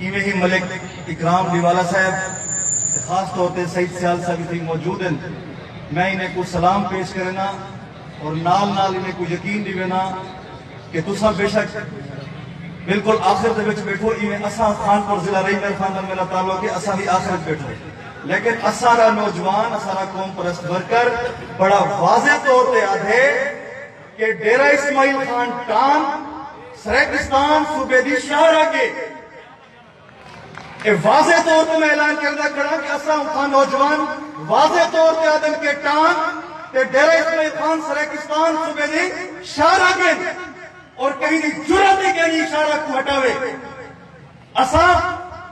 ایویں ہی ملک اکرام ڈیوالہ صاحب تے خاص طور تے سعید سیال صاحب اتھیں موجود ہن۔ میں انہیں کوں سلام پیش کرینداں اور نال نال انہیں کوں یقین ڈیوینداں کہ تساں بے شک بالکل آخر دے وچ بیٹھو ایویں اساں خانپور ضلع رحیم میر خان نال میڈا تعلق ہے اساں وی آخر وچ بیٹھو لیکن اساڈا نوجوان اساڈا قوم پرست ورکر بڑا واضح طور تے آدھے کہ ڈیرہ اسماعیل خان ٹان سریکستان صوبے دی شاہراہ گے۔ اے واضح طور تے میں اعلان کردا کھڑاں کہ اساں اتھاں نوجوان واضح طور تے آہدن کہ ٹان تے ڈیرہ اسماعیل خان سریکستان صوبے دی شاہراہ گن اور کہیں دی جرات ہی کینی شاہراہ کوں ہٹاوے۔ اساں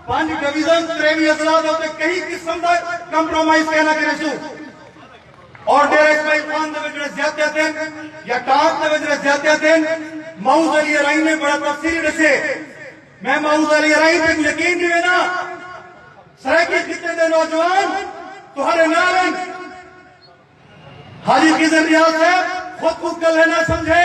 پنج ڈویژن تریویں اضلاع دے اتے کہیں قسم دا کمپرومائز کینا کریسوں۔ اور ڈیرہ اسماعیل خان دے وچ جیڑھے زیادتیاں تھین یا ٹانک دے وچ جیڑھے زیادتیاں تھین معوذ علی ارائی نے بڑا تفصیلی ڈسے میں معوذ علی ارائی تے یقین ڈیوینا سرائیکی خطے دے نوجوان تہاڈے نال ہیں حاجی خضر ریاض صاحب خود کو کلہ نہ سمجھے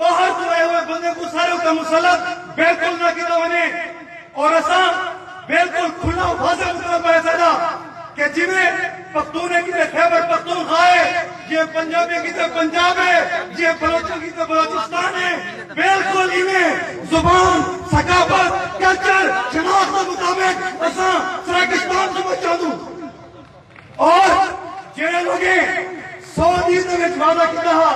باہر توں آئے ہوئے بندے کوں سارے اتے مسلط بالکل نہ کیتا ونجے اور اساں بالکل کھلا واضح مطلب ہے سارا کہ جویں پختون کی تے خیبر پختون خائے یہ پنجابی کی تے پنجاب ہے یہ بلوچوں کی تے بلوچستان ہے بالکل ہی میں زبان ثقافت کلچر شناخت مطابق اساں سرکشتان سمجھ چاہوں اور جیڑے لوگیں سعودی دے وچ وعدہ کیتا ہا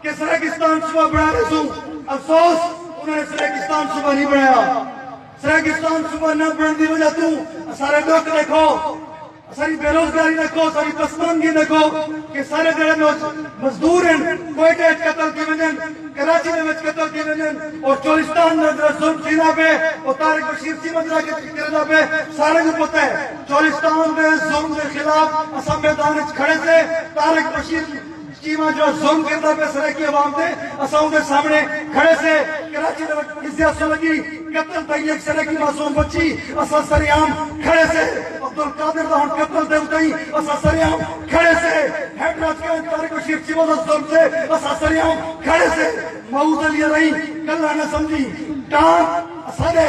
کہ سرائیکستان صوبہ بنا دے سوں افسوس انہوں نے سرائیکستان صوبہ نہیں بنایا سرائیکستان صوبہ نہ بننے دی وجہ توں سارے لوگ دیکھو ساری بے روزگاری دیکھو ساری پسمانگی دیکھو کہ سارے جڑے لوگ مزدور ہیں کوئٹے وچ قتل کی وجن کراچی دے وچ قتل کی وجن اور چولستان میں ظلم تھینا پہ اور طارق بشیر سی مدرا کے کرنا پہ سارے کو پتہ ہے چولستان دے ظلم دے خلاف اساں میدان اچ کھڑے سے، طارق بشیر چیمہ جیڑھا ظلم کیندا پئے سرائیکی عوام تے اساں اوندے سامنے کھڑے سے، کراچی دے وچ ازیا سلگی قتل تئیں ہک سرائیکی معصوم بچی اساں سر عام کھڑے سے، عبدالقادر دا ہن قتل دے اتئیں اساں سر عام کھڑے سے، ہیڈ راج کائیں طارق بشیر چیمہ دا ظلم تے اساں سر عام کھڑے سے، مئو دے لیے رہی کلہا نہ سمجھی ٹانک اساڈے۔